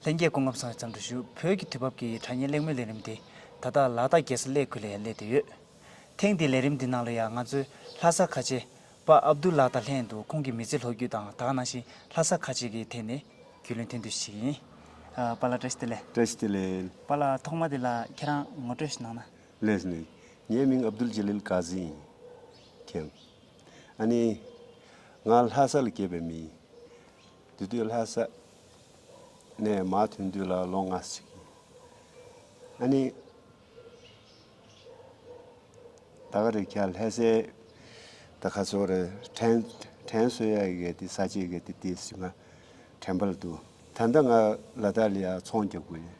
ལྷན་རྒྱས་སྐུ་ངོ་བསམ་ཡས་ཙམ་དུ་བཞུགས་བོད་ཀྱི་དུས་བབ་ཀྱི་དྲ་བརྙན་གླེང་མོལ་ལས་རིམ་དེ་ད་ལྟ་ལག་བསྟར་རྒྱས་སུ་སླེ་ཁུལ་ལ་ཡང་སླེ་བསྡད་ཡོད། ཐེངས་འདིའི་ལས་རིམ་འདི་ནང་ལ་ཡང་ང་ཚོའི་ལྷ་ས་ཁ་ཆེ་པ་ཨབ་རྡུལ་ལགས་དང་ལྷན་དུ་ཁོང་གི་མི་ཚེ་ལྷོད་བརྒྱུད་དང་དག་སྣང་ཞིང་ལྷ་ས་ཁ་ཆེ་གི་ཐད་ནས་རྒྱུས་ལོན་ཐེངས་དུས་ཞིག་ཡིན། པཱ་ལགས་བཀྲ་ཤིས་བདེ་ལེགས། བཀྲ་ཤིས་བདེ་ལེགས། པཱ་ལགས་ཐོག་མ་དེ་ལ་ཁྱེད་རང་ངོ་སྤྲོད་ཞིག་གནང་ན། ལེགས་ལེགས། ངའི་མིང་ཨབ་རྡུལ་ཇེ་ལིལ་ཀཱ་ཟི་ཡིན། ཁྱེད། ཨ་ནི། ང་ལྷ་ས་ལ་སྐྱེས་པའི་མི་ཡིན། དེ་དུས་ལྷ་ས་ནས་མ་ཐོན་དུས་ལ་ལོ་ང་གཅིག་ཡིན། ཨ་ནི། ད་ག་རེད་ཁྱེད་ལྷ་སའི་ད་ག་ཚོ་རེད་དྲན་དྲན་སོ་ཡ་གི་ག་དི་ས་ཆའི་ག་དི་དེ་ཟིག་ང་དྲན་པ་ལ་འདུག་ད་ལྟ་ང་ལ་ད་ལི་ཡ་ཚོང་རྒྱག་དགོས་ཡིན།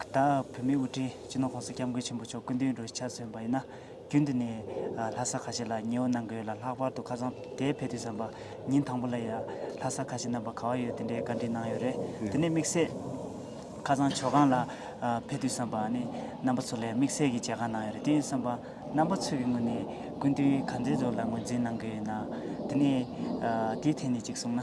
ཁྱེད་ལ་བོད་མིའི་དབུ་ཁྲིད་སྤྱི་ནོར ྋགོང་ས ྋསྐྱབས་མགོན་ཆེན་པོ་མཆོག་སྐུ་མདུན་རུ་ཕྱག་སོན་པ་ཡིན་ན། རྒྱུན་དུ་ནས་ལྷ་ས་ཁ་ཆེ་ལ་ཉི་འོ་གནང་གི་ཡོད་ལ་ལྷག་པར་དུ་ཁ་སང་དེ་ཕེབས་དུས་བསམ་པ་ཉིན་དང་པོ་ལ་ཡང་ལྷ་ས་ཁ་ཆེ་རྣམ་པ་ག་བ་ཡོད་དེ་འདྲའི་བཀའ་དྲིན་གནང་ཡོད་རེད་དེ་ནས་དམིགས་བསལ་ཁ་སང་ཇོ་ཁང་ལ་ཕེབས་དུས་བསམ་པ་ནི་རྣམ་པ་ཚོ་ལ་ཡང་དམིགས་བསལ་གྱི་མཇལ་ཁང་གནང་ཡོད་རེད་དེ་ཡིན་བསམ་པ་རྣམ་པ་ཚོས་ཀྱི་ངོས་ནས་སྐུ་མདུན་ག་ཚོད་ལ་ངོས་འཛིན་གནང་གི་ཡོད་ན་དེ་ནས་དེའི་ཐད་ནས་ཅིག་གསུང་ན།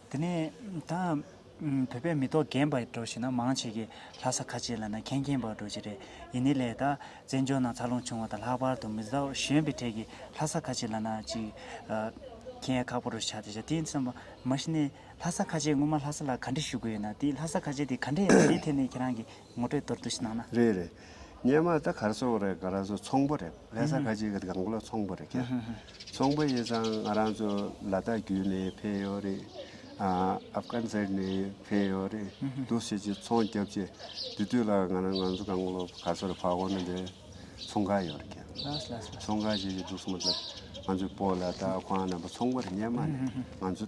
དེ་ནས་ད་བོད་པའི་མི་ཐོག་རྒན་པ་འགྲོ་ཞེས་ན་མང་ཆེ་གེ་ལྷ་ས་ཁ་ཆེ་ལ་ན་མཁན་རྒན་པ་འགྲོ་ཆེ་རེད་ཡིན་ནི་ལས་ད་བཙན་བྱོལ་ནང་འཚར་ལོངས་བྱུང་བ་དང་ལྷག་པར་དུ་མི་ཟླ་བ་གཞོན་པའི་གྲས་ཀྱི་ལྷ་ས་ཁ་ཆེ་ལ་ན་ཅིག་མཁན་ཡ་ཁག་པོ་རུ་ཆགས་ཏེ་ཞག་བསྟེན་ཙམ་མ་ཤི་ནས་ལྷ་ས་ཁ་ཆེ་ངོ་མ་ལྷ་ས་ལ་ག་འདྲི་ཞུ་དགོས་ཡོད་ན་དེ་ལྷ་ས་ཁ་ཆེ་དེ་ག་འདྲས་ཡིན་དེ་ཐད་ནས་ཁྱེད་རང་གི། ངོ་སྤྲོད་གཏོར་བསྡུ་ཞིག་གནང་ན། རེད་རེད། སྙན་མ་ད་གར་སོང་རེད་ག་རང་ཚོ་ཚོང་པོ་རེད་ལྷ་ས་ཁ་ཆེ་གི་དགང་བློ་ཚོང་པོ་རེད་ཁྱེད་ཚོང་པོ་ཡིན་ཙང་ང་རང་ཚོ་ལ་དྭགས་བརྒྱུད་ནས་ཕེད་ཡོད་རེད་ཨ་ཨབ་གྷན་ཟེར་ནས་ཕེད་ཡོད་རེད་འདུག་བྱེད་ཀྱི་ཚོང་རྒྱབ་ཀྱི་དེ་དུས་ལ་ང་རང་ང་ཚོ་དགང་བློ་ག་ཚོར་ཕ་གོ་ན་དེ་ཚོང་ཁ་ཡོད་རེད་ཁྱེད་ལྷ་ས་ཚོང་ཁ་བྱེད་ཀྱི་འདུག་སུ་མ་ད་ང་ཚོ་སྤོ་ལ་དྭགས་ཁོང་ནང་པ་ཚོང་པོ་རེད་སྙན་མ་ནས་ང་ཚོ།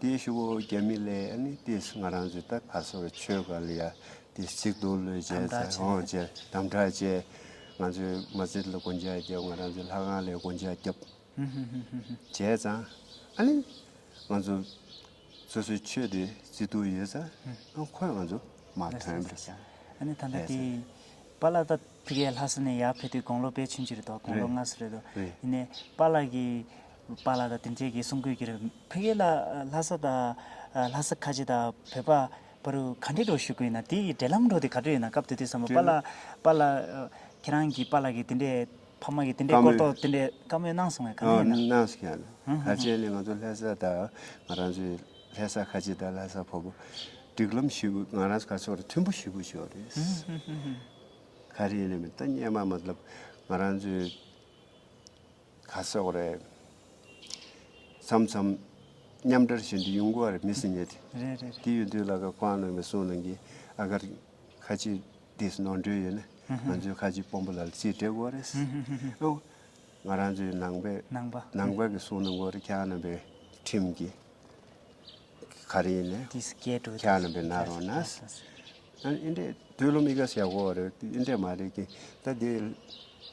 དེའི་ཤུ་བོ་རྒྱ་མི་ལས་ཨ་ནི་ཏི་སི་ང་རང་ཚོའི་ད་ག་སོར་ཆོས་ག་ལ་ཡ་ཏི་སི་ཅིག་འདུག་ལོས་བྱས་ཚ་ཧོང་བྱས་དམ་དྲག་བྱས། ང་ཚོའི་མ་རྩེད་ལ་སྒོ་འཇགས་བརྒྱབ་ང་རང་ཚོའི་ལྷ་ཁང་ལས་སྒོ་འཇགས་བརྒྱབ། བྱས་ཙང་ཨ་ནི་ང་ཚོ་སོ་སོའི་ཆོས་དེ་བརྩི་ཐུ་ཡོད་ཙང་ཁོས་ང་ཚོ་མ་དོན་པར་བྱས། ཨ་ནི་ད་ལྟ་དེ་པཱ་ལགས་ད་ཕི་གའི་ལྷ་ས་ནས་ཡར་ཕེབས་དུས་དགུང་ལོ་པའི་ཆུན་ཅི་རེད་དོ་དགུང་ལོ་ལྔ་སོ་རེད་དོ་ཡིན་ནས་པཱ་ལགས་ཀྱི་པ་ལ་དང་དེ་འབྲེལ་གྱི་གསུང་བཀོད་གྱིར་ཕུ་ཡེ་ལ་ལྷ་ས་དང་ལྷ་ས་ཁ་ཆེ་དང་བོད་པ་བ་རུ་ག་འདྲེ་འགྲོ་ཞུ་དགོས་ཡིན་ན་དེ་ཡི་འབྲེལ་ལམ་འགྲོ་དེ་ག་འདྲོ་ཡིན་ན་སྐབས་དེ་དུས་བསམ་བློ་པ་ལ་པ་ལ་ཁྱེད་རང་གི་པ་ལ་གི་དེ་འདྲེ་ཕ་མ་གི་དེ་འདྲེ་བཀོར་ཐོག་དེ་འདྲེ་བཀའ་མོལ་གནང་སོང་བས་ག་འདྲེ་ཡིན་ན། གནང་སོང་ཡ་ལ་ག་ཅེ་ནི་ང་ཚོ་ལྷ་ས་དང་ང་རང་ཚོའི་ལྷ་ས་ཁ་ཆེ་དང་ལྷ་ས་བོ་བོ་སྒྲིག་ལམ་ཞུ་དགོས་ང་རང་ཚོ་ག་ཕྱོགས་རུ་མཐུན་པོ་ཞུ་དགོས་ཕྱོགས་རེད། ག་རེ་ཡིན་ན་མི་ལྟ་སྙན་མ་མ་ལབ་ང་རང་ཚོའི། ག་སོགས་རེད། མཚམས་མཚམས། མཉམ་འདྲར་བྱེད་འདི་ཡུན་གོ་བ་རེད་མི་སྲིད་ཉལ་ཏེ། རེད་རེད། དེ་ཡོད་དུས་ལ་ཁ་ཁོའང་ནང་མི་སོང་ནང་གི་ཨ་ཁར། ཁ་ཆེ། དེས་ནོར་འཁྲུལ་ཡོད་ན། ང་ཚོའི་ཁ་ཆེ་དཔོན་པོ་ལ་ལ་ཚིག་སྤྲད་དགོས་རེད། ཨོ། ང་རང་ཚོའི་ནང་པའི། ནང་པ། ནང་པ་གི་སོང་ནང་གོ་རེད་ཁྱེད་རྣམ་པའི། ཁྲིམས་ཀྱི། ག་རེ་ཡིན་ནས། དེས་སྐད་སྒྲོག་ཁྱེད་རྣམ་པའི་ན་རོ་ན། ཨ་ཨིན་དྲས་དུས་ལོ་མི་ག་ས་ཡག་གོ་བ་རེད་ཨིན་དྲས་མ་རེད་ཀི་ད་དེ།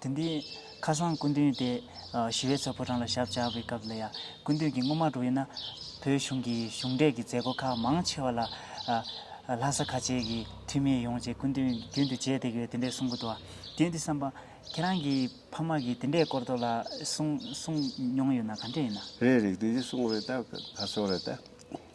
དེ་འདི། ཁ་སང་སྐུ་མདུན་དེ། ཞི་བའི་ཚོགས་ཕོ་བྲང་ལ་ཞབས་བཅགས་པའི་སྐབས་ལ་ཡང། སྐུ་མདུན་གྱིས་སྔོན་མ་འགྲོ་ཡི་ན། བོད་གཞུང་གི་གཞུང་འབྲེལ་གྱི་མཛད་སྒོ་ཁག་མང་ཆེ་བ་ལ། ལྷ་ས་ཁ་ཆེའི་གི་འཐུས་མི་ཡོང་ཅེས་སྐུ་མདུན་གྱིས་རྒྱུན་དུ་བརྗེད་དེ་གི་དེ་འདྲས་གསུང་གི་འདུག་བ། དེ་འདི་བསམ་པ། ཁྱེད་རང་གི་ཕ་མ་གིས་དེ་འདྲས་སྐོར་དོ་ལ་གསུང་གསུང་མྱོང་ཡོད་ན་ག་འདྲས་ཡིན་ན། རེད་རེད་དེ་གསུང་རེད་ད་ག་ཚོད་རེད་ད།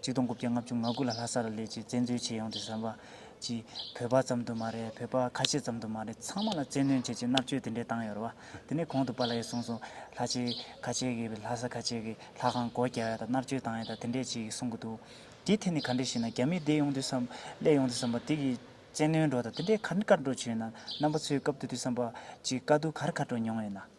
གཅིག་སྟོང་དགུ་བརྒྱ་ལྔ་བཅུ་ང་དགུ་ལ་ལྷ་ས་རུ་ལས་བྱེད་བཙན་འཛུལ་བྱས་ཡོང་སྟེ་བསམ་པ་གྱིས་བོད་པ་ཙམ་དུ་མ་རེད་བོད་པ་ཁ་ཤས་ཙམ་དུ་མ་རེད་ཚང་མ་ལ་བཙན་གནོན་བྱེད་ཀྱི་མནར་གཅོད་དེ་འདྲས་བཏང་ཡོད་རེད་བ། དེ་ནས་གོང་དུ་པཱ་ལ་ཡས་གསུངས་སོང་ལྷ་ཆེ་ཁ་ཆེ་གི་ལྷ་ས་ཁ་ཆེ་གི་ལྷ་ཁང་སྒོ་རྒྱག་ཡ་དང་མནར་གཅོད་བཏང་ཡ་དང་དེ་འདྲས་བྱས་ཡིག་གསུང་གི་འདུག་དེའི་ཐད་ནས་ག་འདྲས་ཤེས་ན་རྒྱ་མིས་བསྡད་ཡོང་དུས་སམ་གླས་ཡོང་དུས་སམ་པ་དེ་གི་བཙན་གནོན་འགྲོ་དང་དེ་འདྲས་ག་འདྲས་བཀའ་འགྲོ་བྱས་ཡོད་ན་རྣམ་པ་ཚོའི་སྐབས་དེ་དུས་སམ་པ་གྱི་དཀའ་སྡུག་གར་ཁ་འགྲོ་མྱོང་ཡོད་ན།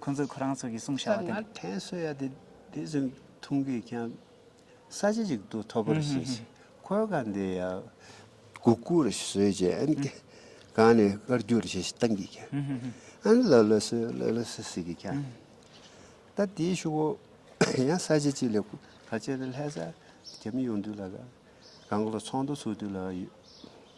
ཁོ་ཚོས་ཁོ་རང་ཚོ་གི་གསུང་བྱ་བ་དེ། ལྟར་ན་དྲན་གསོ་ཡ་དེ་དེ་ཟིན་ཐུང་གིས་ཀྱང་ས་ཆ་ཅིག་ཏུ་ཐོབ་པར་བྱེད་ཅིང་ཁོའི་ཁ་འདི་ཡ། གུ་གུ་རུ་བཟོས་རྗེས་ཨན་ཏེ་གང་ནས་དཀར་རྒྱུག་རུ་བྱེད་ཞེས་ཏང་གིས་ཀྱང་ཨན་ལོ་ལོ་སི་ལོ་ལོ་སི་ཟིག་གིས་ཀྱང། ད་དེའི་ཤུ་བོ་ཡང་ས་ཆ་ཅིག་ལས་གུ་ག་ཅེ་རུ་ལྷས་ས་རྒྱ་མི་ཡོང་དུས་ལ་ག་གང་གི་ལོ་ཚོགས་འདུ་ཚུགས་དུས་ལ་ཡོད།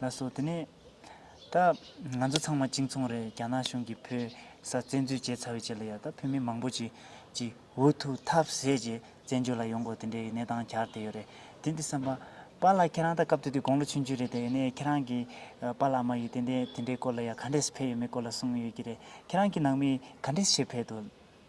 ལ་སོགས་དེ་ནས། ད། ང་ཚོ་ཚང་མ་གཅིག་མཚུངས་རེད་རྒྱ་ནག་གཞུང་གིས་བོད་ས་བཙན་འཛུལ་བྱས་ཚར་བའི་རྗེས་ལ་ཡང་ད་བོད་མི་མང་པོ་ཞིག་གིས་འུ་ཐུག་ཐབས་ཟད་ཀྱིས་བཙན་བྱོལ་ལ་ཡོང་དགོས་དེ་འདྲའི་གནས་སྟངས་གྱར་བསྡད་ཡོད་རེད་དེ་འདི་བསམ་པ། པཱ་ལགས་ཁྱེད་རང་ད་སྐབས་དེ་དུས་དགུང་ལོ་ཆུང་ཆུང་རེད་དེ་ཡིན་ནའི་ཁྱེད་རང་གིས། པཱ་ལགས་མ་ཡིས་ཏན་ཏན་དེ་འདྲའི་སྐོར་ལ་ཡང་ག་འདྲས་སུ་ཕེབས་ཡོད་མེད་སྐོར་ལ་གསུངས་ཡོད་ཀྱི་རེད་ཁྱེད་རང་གི་ནང་མིས་ག་འདྲས་ཤེས་ཕེད་དོ།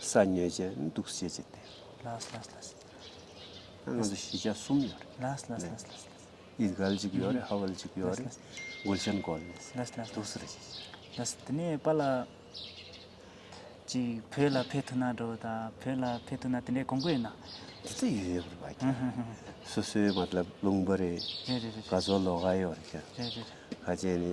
ས་ཉོས་ཅན་འདུག་ཤེས་བྱེད་དེ། ལས་ལས་ལས་ལས། ང་ཚོ་གཞིས་ཆགས་གསུམ་ཡོད་རེད། ལས་ལས་ལས་ལས་ལས། ཡིད་གལ་གཅིག་ཡོད་རེད་ཧ་ཝལ་གཅིག་ཡོད་རེད། མགུལ་ཆེན་སྒོ་ལས། ལས་ལས་ལས། དུག་སེལ་ཞིག་ཞིག། ལས་ལས། དེ་ནས་པཱ་ལགས། ཅིག་བོད་ལ་ཕེབས་ཐུབ་ན་འགྲོ་ད། བོད་ལ་ཕེབས་ཐུབ་ན་དེ་འདྲའི་གོང་བུ་ཡོད་ན། དེ་ཚོ་ཡོད་ཡོད་རེད་བ། སོ་སོའི་མཏླབ་རླུང་བུ་རེད། རེད་རེད་རེད། ག་ཚོད་ལོ་ག་ཡོད་རེད། རེད་རེད་རེད། ག་ཅན་ནི།